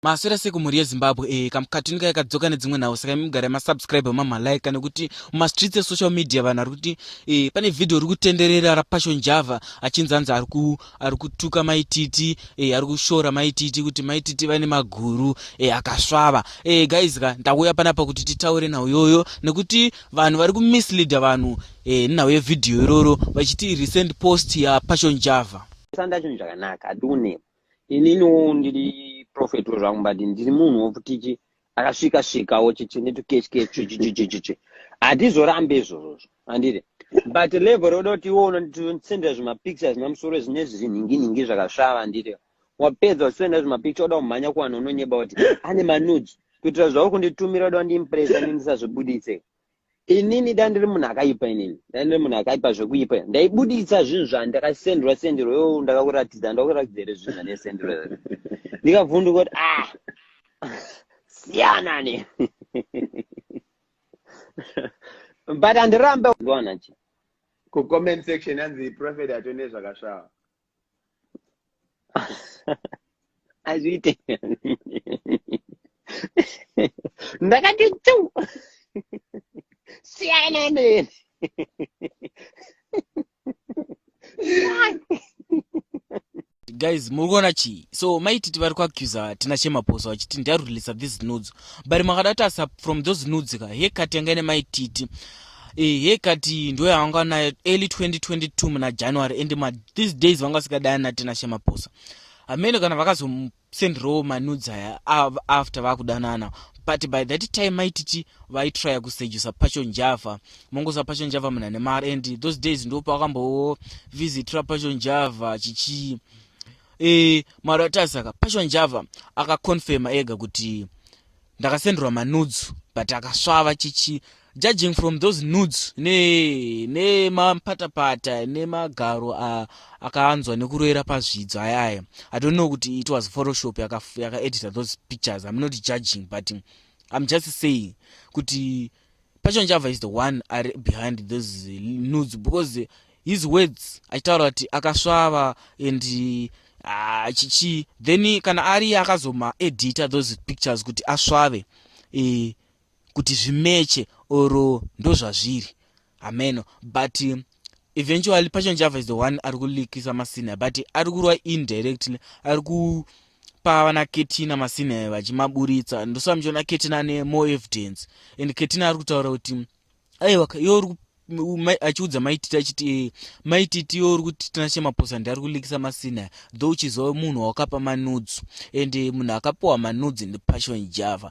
Maswera sei kumhuri yezimbabwe e eh, kamukatini kaya kadzoka nedzimwe nhau saka mugare masubscribe mamalike kana kuti mumastreets esocial media vanhu ari kuti e pane vhidhio ri kutenderera rapassion java achinzi anzi ari kutuka maititi e ari kushora maititi kuti maititi vane maguru e akasvava e guys ka ndauya panapa kuti titaure nhau yoyo nekuti vanhu vari kumisleada vanhu e nhau yevhidhio iroro vachiti recent post yapassion java sandachinhu zvakanaka adiunema ininiwo ndiri prophet wezvangu but ndiri munhu wokutiti akasvika svikawo chichi netukechikechuchichichichichi hatizorambe izvozvozvo andiri but level roda kuti iwo unondisendera zvimapics azvina musoro zvine zvinhinginhingi zvakasvava andiri wapedza usendera zvimapics oda kumhanya kuvanhu unonyeba kuti ane manudes kuitira zvauri kunditumira oda kundimpresa ndindisazvibudise inini dai ndiri munhu akaipa inini dai ndiri munhu akaipa zvekuipa ndaibuditsa zvinhu zvandakasendwa sendero yo ndakakuratidza ndakuratidza here zvinhu zvanesendero ndikavhunduka kuti ah siyana ne but andirambe kucomment section yanzi prophet atone zvakasvava hazviite ndakati tu siyana neni guys muri kuona chii so maititi vari kuaccusa tina chemaposo vachiti ndiarurelisa these nudes but makada tasa from those nudes ka hekati yanga ine maititi ehe kati ndo yavanga nayo early 2022 muna january and ma these days vanga vasikadaya natina shemaposa hameno kana vakazomsendirawo manudzi aya after vakudanana but by that time maititi vaitrya kusejusa pacho njava mongosa pacho njava muna nemar and those days ndo paakambowo visitra pacho njava chichii e, eh, mari atasaka pacho njava akaconfirma ega kuti ndakasendrwa manudes but akasvava chichi judging from those nudes ne nemapatapata nemagaro akaanzwa nekuroera pazvidzo aya aya i don't know kuti it was photoshop yakaedita yaka those pictures i'm not judging but i'm just saying kuti Passion Java is the one ari behind those nudes because his words achitaura kuti akasvava and ah, chichi then kana ari akazoma edita those pictures kuti asvave e, kuti zvimeche or ndozvazviri hameno but eventually passion java is the one ari kulikisa masina but ari kurwa indirectly ari kupa vana ketina masina vachimaburitsa ndosaka muchiona ketina ane more evidence and ketina ari kutaura kuti aiwa iyo uri achiudza maititi achiti maititi yo uri kuti tinashe maposa ndi ari kulikisa masina though uchizova munhu wakapa manudzu and munhu akapiwa manudzi ndipassion java